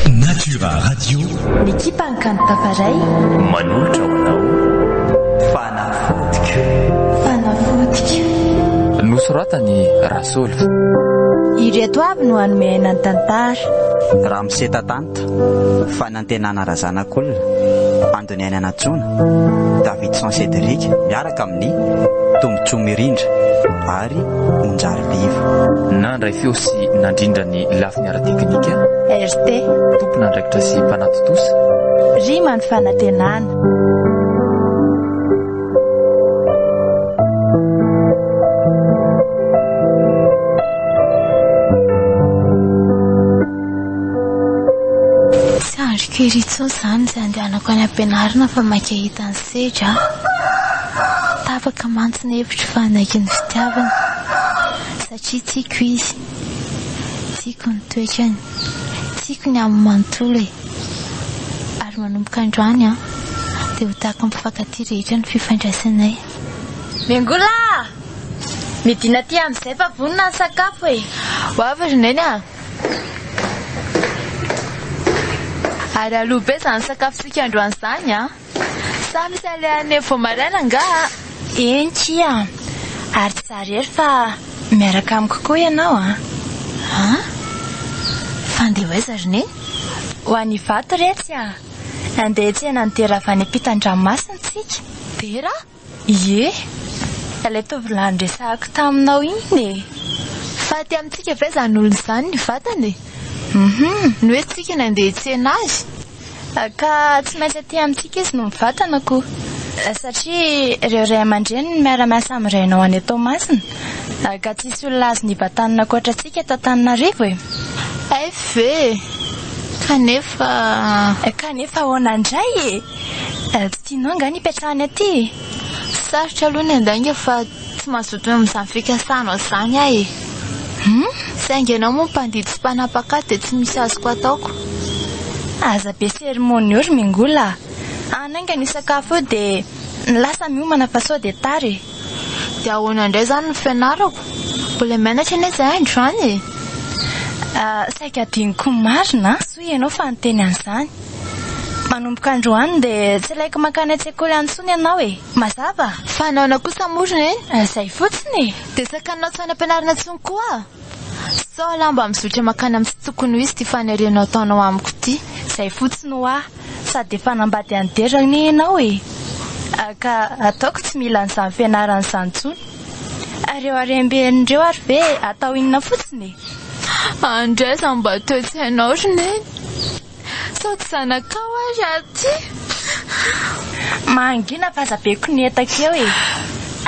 Natura Radio N'ekipan'ny kanto Tafaray manolotra ho anao Fanafodiko Fanafodiko Nosoratan'i Rasoly Ireto avy no hanome aina ny tantara Ramose Tatanta Fanantenana Razanakolona Doniain Anantsona, Davidson Cédric miaraka amin'ny Tombotsoa Mirindra ary Monjary Viva. Nandray feo sy nandrindra ny lafiny ara-teknika. RT. Tompon'andraikitra sy mpanatontosa. Rima ny fanantenana. Tsy andriko ery intsony izany izay andehanako any am-pianarana fa maika hahita an'i Sedra aho. Tapaka mantsy ny hevitro fa hanaiky ny fitiavana satria tiako izy. Tiako ny toetrany. Tiako ny aminy manontolo e. Ary manomboka androany an, dia ho tahaka ny mpifankatia rehetra ny fifandraisanay. Miangola a! Midina aty amin'izay fa vonona ny sakafo e! Ho avy ry Neny a! Ary aloha be izany sakafontsika androany izany an! Sa misy alehany eo vao maraina angaha an! Eny kia! Ary tsy za irery fa miaraka amiko koa ianao an! An? Fa handeha ho aiza ry Neny? Ho any Ivato re tsy an! Handeha hiantsena ny dera avy any am-pitan-dranomasina isika. Dera? Ie, ilay tovolahy niresahako taminao iny e! Fa aty amintsika ve izany olona izany ny vatany e? Hum, ny hoe tsika ny handeha hitsena azy? Ka tsy maintsy aty amintsika izy no mivatana koa. Satria ireo ray aman-dreny no miara-miasa amin'ny rainao any an-Toamasina. Ka tsy hisy olona azony hivatana ankoatra antsika eto Antananarivo e! Hay ve! Kanefa. Kanefa ahoana indray e! Tsy tianao angaha ny hipetrahany aty e? Sarotra aloha ny handainga fa tsy mazoto mihaona izany fikasanao izany aho e! Hum! Saingy ianao moa mpandidy sy mpanapak'ady dia tsy misy azoko ataoko. Aza be seremônio ry Mingola a! Hanainga ny sakafo eo dia lasa miomana fa sao dia tara e! Dia ahoana indray izany no fianarako? Mbola mianatra anie izahay androany e! Saika adinoko marina a! Soa ianao fa niteny an'izany. Manomboka androany dia tsy ilaiko mankany an-tsekoly any intsony ianao e! Mazava? Fa naona kosa moa ry neny? Izay fotsiny e! Dia tsy hakanonao tsy hanam-pianarana intsony koa aho. Sao la mba mizotra mankany amin'ny tsy tokony ho izy ity fanirianao ataonao amiko ity. Izay fotsiny hoa! Sady efa hanambady any Dera anie ianao e! Ka ataoko tsy mila an'izany fianarana izany intsony. Ary ireo harem-beriny ireo ary ve atao inona fotsiny e? Andraiza mba toe-tsainao ry Neny. Sao tsy zanakao ary aty? Mangina fa aza be konietaka eo e!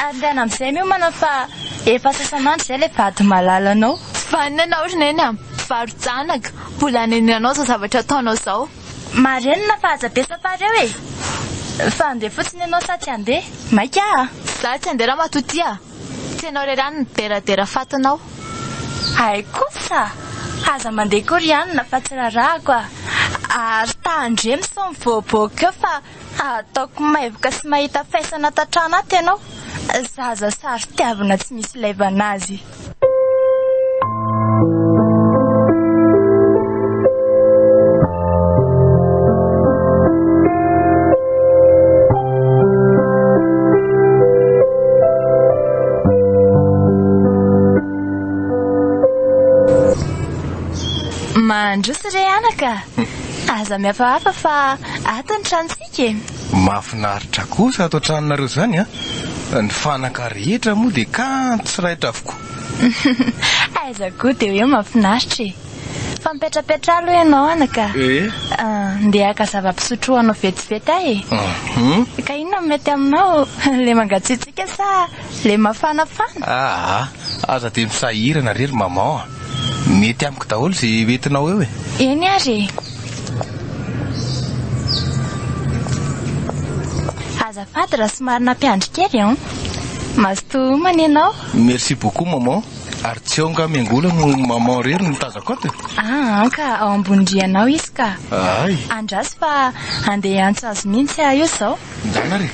Ary indray andro amin'izay miomana fa efa sasan'andro izay ilay vady malalanao. Vanona ianao ry Neny a! Varo-janaka, mbola anenenanao izao zavatra ataonao izao. Marenina fa aza be tapareo e! Fa andeha fotsiny ianao sa tsy andeha? Maika a! Za tsy andeha ramatotia! Tsy ianao irery any mideradera fatinao! Hay kosa! Aza mandeha koa ry anona fa tsy rarahako a! Ary tahan-dre misao mivoaboaka eo fa Ataoko maivoka sy mahita faisana tatranaty ianao, zaza sary tiavina tsy misy laivana azy. Mandroso re anaka. Aza mihafahafa fa ato ny tranontsika e! Mahafinaritra kosa ato an-tranonareo izany a! Ny fanaka rehetra moa dia kanto sy raitra avokoa. Aiza koa dia hoe mahafinaritra e! Fa mipetrapetra aloha ianao ana ka! Ndeha haka zava-pisotro ho anao vetivety aho e! Ka inona no mety aminao? Ilay mangatsiatsiaka sa ilay mafanafana? Aa! Aza dia misahirana re ry maman a! Mety amiko daholo ze hoentinao eo e. Eny ary e. Azafady raha somary nampiandry kely an. Mazotoa homana ianao. Merci beaucoup maman. Ary tsy ao nga miangola no maman irery no tazako ato e. Aa ka ao ambony rihana ao izy ka. Ahay. Andraso fa handeha hiantso azy mihitsy aho izao. Mijanona ary e!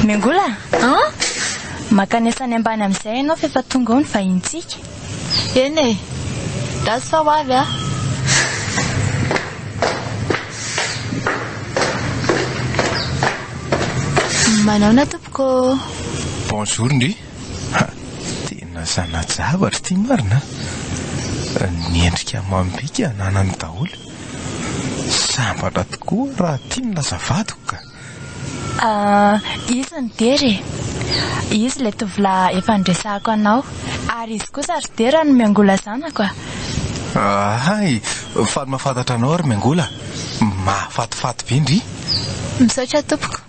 Miangola a! An? Mankanesa any ambany amin'izay ianao f'efa tonga ao ny vahinintsika. Eny e! Gasy fa ho avy aho. Manaona tompoko ô! Bonjour ndry! Ha! Tena zana-javatra ity marina a! Ny endrika amam-bika ananany daholo. Sambatra tokoa raha tiany lasa vadiko ka! Ah, izy ny dera e! Izy ilay tovolahy efa niresahako anao. Ary izy kosa ry dera no miangola zanako a! Hay! Faly mahafantatra anao ry miangola. Mahafatifaty be ndry! Misaotra tompoko.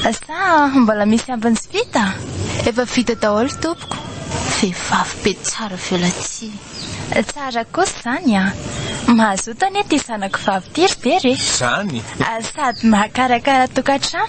Sa mbola misy ambiny sy vita? Efa vita daholo tompoko. Vehivavy be tsara violatia. Tsara kosa izany an! Mazoto anie ity zanako vavy ity ry Very e! Izany? Sady mahakarakara tokantrano.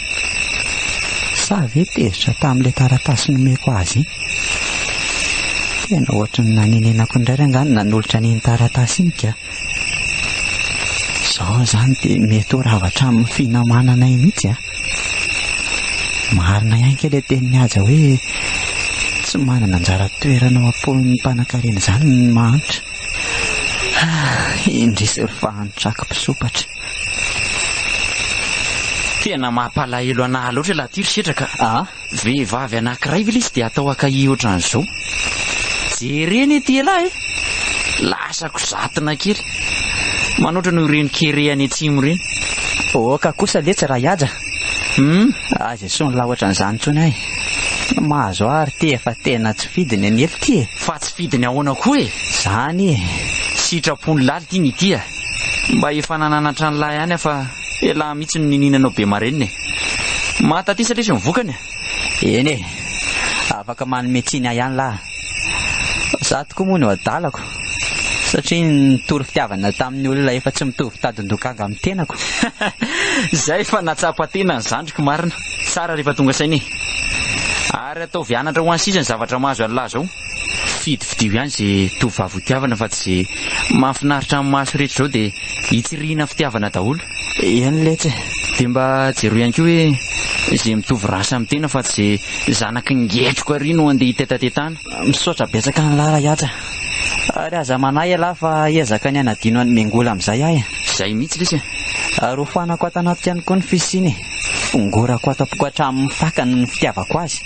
Sa ve tezitra tamin'ilay taratasy nomeko azy iny? Tena ohatran'ny nanenenako indray re angaha ny nanolotra an'iny taratasy iny ka! Izao izany dia mety ho rava hatramin'ny finamananay mihitsy an! Marina ihany kay ilay tenin'i Haja hoe tsy manana anjara toerana ao am-pon'ny mpanankarena izany ny mahantra. Indrisy ry fahantrako mpisompatra. Tena mampalahelo anah loatra ilay tir setra ka. Ah? Vehivavy anankiray ve ilay izy dia atao akahia ohatran'izao? Jere anie ity elah e! Lasa kozatina kely. Manoatra noho ireny kere any atsimo ireny. Oka kosa letsy ra Ihaja. Hum, aza esoy ny lahy ohatran'izany intsony ahy. Ny mahazo ahy ry tia fa tena tsy fidiny an'ela ity e! Fa tsy fidiny ahoana koa e? Izany e! Sitrapon'ny laly ity ny tia. Mba efa nananatra an'lah ihany aho fa elah mihitsy no niniana anao be marenina e! Mahatatisa lesy ny vokany a! Eny e! Afaka manome tsiny ahy ihany lah! Zah tokoa moa no adalako satria nitory fitiavana tamin'ny olona efa tsy mitovy tadin-dokanga amin'ny tenako. Zay efa nahatsapa tena ny zandriko marina! Tsara rehefa tonga saina e! Ary ataovy anatra ho an'ny sisa ny zavatra mahazo an'lah zao! Fidifidio ihany ze tovovavy ho tiavana fa tsy ze mahafinaritra amin'ny maso rehetra zao de hitsirihina fitiavana daholo. Eny letsy e! De mba jereo ihany koa hoe ze mitovy race amin'ny tena fa tsy ze zanaky ny ngetroka ary no andeha hitetatetana. Misaotra betsaka anlah Rahiatra ary aza manahy ialahy fa hiezaka ny hanadino an'i Mengola amin'izay aho e! Zay mihitsy lesy e! Ary hofanako ato anaty ihany koa ny fisiany e! Hongorako ato am-poko hatramin'ny fakany ny fitiavako azy.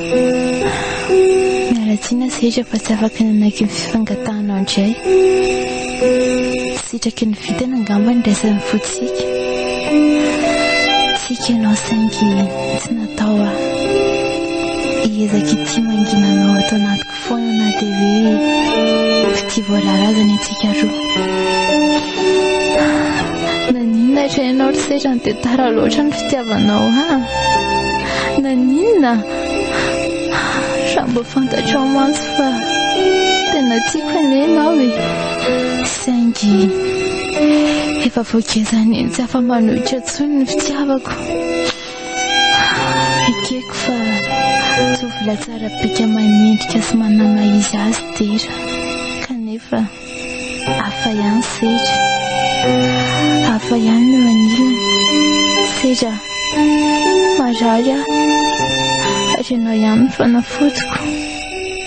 Miala tsiny sehatra fa tsy afaka nanaky ny fifangatahanao indray. Sitraky ny vintana angamba ny raisan'ny fontsika. Tsiky ianao saingy tsy natao aho hiezaka ity mangina anao ato anatiko. Foana na dia hoe tsy tia voalala aza ny antsika roa. Naninona hatreha ianao ry sezany dia tara loatra ny fitiavanao ahy? Naninona? Raha mba fantatrao mantsy fa tena tiako anie ianao e. Saingy efa vao gezan'ny tsy afa-manohitra intsony ny fitiavako. Ekeko fa tovolahy tsara bika manendrika sy manamahiza azy dera kanefa hafa ihany sedra hafa ihany no anilany sedra marary aho ary ianao ihany no fanafodiko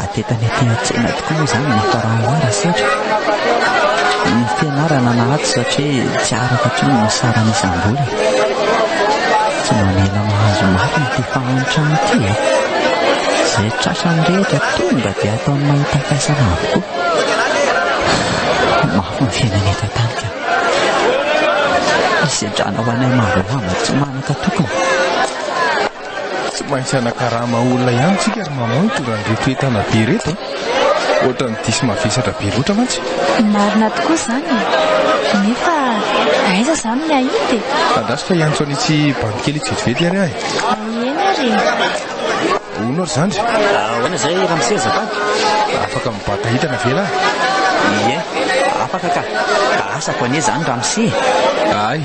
Atetany aty an-tsena tokoa moa izany ny faranara saotra. Ny fianarana na ato satria tsy araka hatrany ny sarany isam-bola. Tsy mamela mahazo mafy ny tia fahantra ity e. Izay trasany rehetra tonga dia ataony mahita faisana avokoa. Mafy ny fiainana eto an-tany ka. Hisedrana ho anay maro lamba tsy manana. Ka tokony. Tsy maintsy hanakarama olona ihany tsika ry maman no tonga an'reto entana be reto a. Ohatran'ny diso mavesatra be loatra mantsy. Marina tokoa izany e. Nefa aiza izany ny hahita e. Andraso fa hiantso an'itsy bandy kely itsy vetivety ary aho e. Eny ary e. Ahoana ry zandry? Ahoana izay Ramsey azafady? Afaka mibata hitana ve lahy? Ie, afaka ka. Asako anie izany Ramsey. Ay,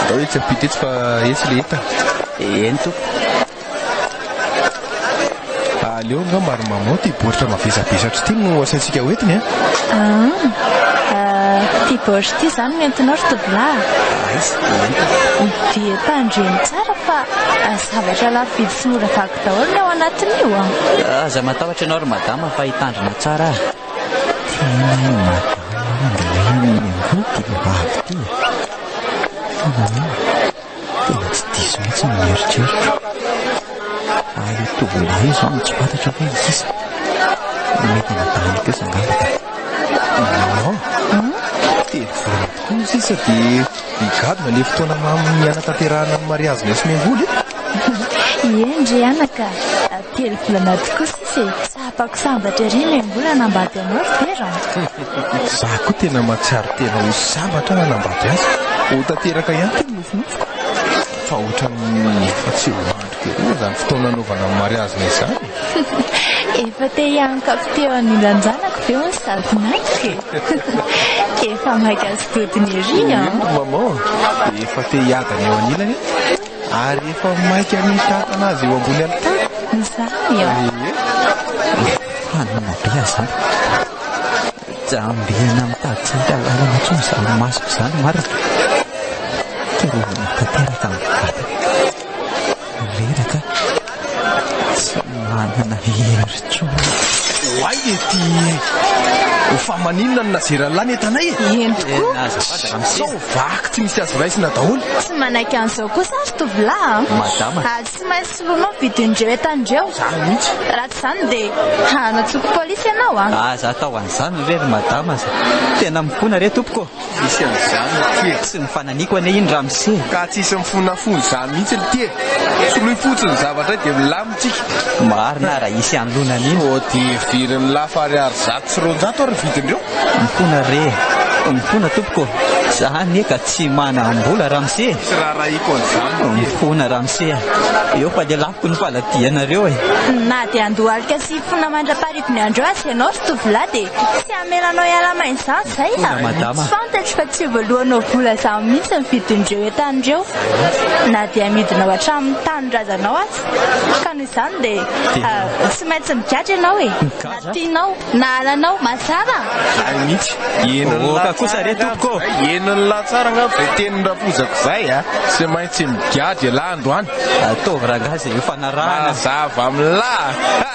atao etsy ampita etsy fa etsy le heta. Eny tompoko. Aleo nga maro mamao ty boritra mavesabesatra ity no asaintsika ho entiny ah. Ah, ah ty boritra ity izany no entinao ry tovolahy. Aiza, entina. Dia tandremo tsara fa Zavatra lafo vidy sy mora vaky daholo ny ao anatin'io a! Aza matahotra ianao ry madama fa hitandrina tsara aho. Tena i madama mandray ny angovo ty vehivavy ty e! Fa nahoana? Tena tsy diso mihitsy ny eritreritra. Fa io tovolahy io izao no tsy fantatra hoe iza. Mety anadahin'i Pesa angamba ka. Maman, dia vola tokoa izy sisa dia. Migadona le fotoana mamy hanatanterahana ny mariazy ny Somengoly e! Eny ry anaka, telo volana tokoa sisa e! Tsapako sambatra ery ny Mengoly hanambady anao ry Tera an! Za koa tena mahatsiaro tena ho sambatra aho hanambady azy. Ho tanteraka ihany ity ny nofinofiko fa ohatran'ny efa tsy ho any. Inona izany fotoana anaovana ny mariazina izany? Efa te hiankavy teo anindran-janako ve hono sady naka e? Efa maika sy todiny ery an! Eny ry maman, dia efa te hiadana eo anilany ary efa maika hamitantana azy eo ambony alitara. Izany an! Ehe. Fanina be aho izany. Tsy ambihina mitady tsy hita lalana intsony izany masoko izany marina. Te rovina tanteraka ny vatako. Reraka tsy manana hery intsony. Oay e ty ho fa maninona no nazera an'la ny entanay e? Eny tokoa. Sao vaky tsy misy azo raisina daholo. Tsy manaiky an'izao kosa aho ry tovolahy a! Madama. Ary tsy maintsy soloinao ny vidin'ireo entan'ireo. Zany mihitsy. Raha tsy izany dia hanatsoako polisy ianao a! Aza atao an'izany re ry madama a! Tena mifona re tompoko ô! Misy an'izany aty e! Tsy nifananiko anie iny ramose e! Ka tsisy mifona fony izany mihitsy lty e! Soloy fotsiny ny zavatra hay dia milamy tsika! Marina ara hisy anlonana iny! Hodivirin'ny lafo ariary zato sy roanjato ary ny vidindreo! Mifona re! Mifona tompoko! Za anie ka tsy manam-bola ramose e! Tsy raharahiako an'izany lty e! Mifona ramose a! Eo fa lelafiko ny faladianareo e! Na dia andohalika sy fona mandra-pahariva. Ny andro azy ianao ry tovolahy dia tsy hamela anao hiala maina izany izay a! Tsy fantatro fa tsy hivoalohanao vola izany mihitsy ny vidin'ireo entana ireo na dia amidinao hatramin'ny tanindrazanao aza. Ka noho izany dia tsy maintsy migadra ianao e! Na tianao na halanao, mazava? Hay mihitsy! Henon'ny lahatsara angamba izay tenin'i Rampozako izay a! Tsy maintsy migadra ialahy androany! Ataovy rangahy izay hifanarahana! Mazava amin'lah!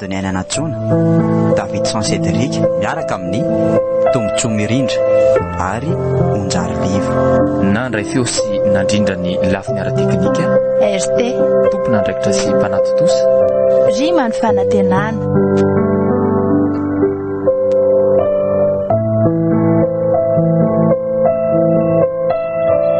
Doniaina Anatsoana, Davidson Cédric miaraka amin'ny Tombotsoa Mirindra ary Onjary Liva. Nandray feo sy nandrindra ny lafiny ara-teknika. RT. Tompon'andraikitra sy mpanatontosa. Rima ny fanantenana.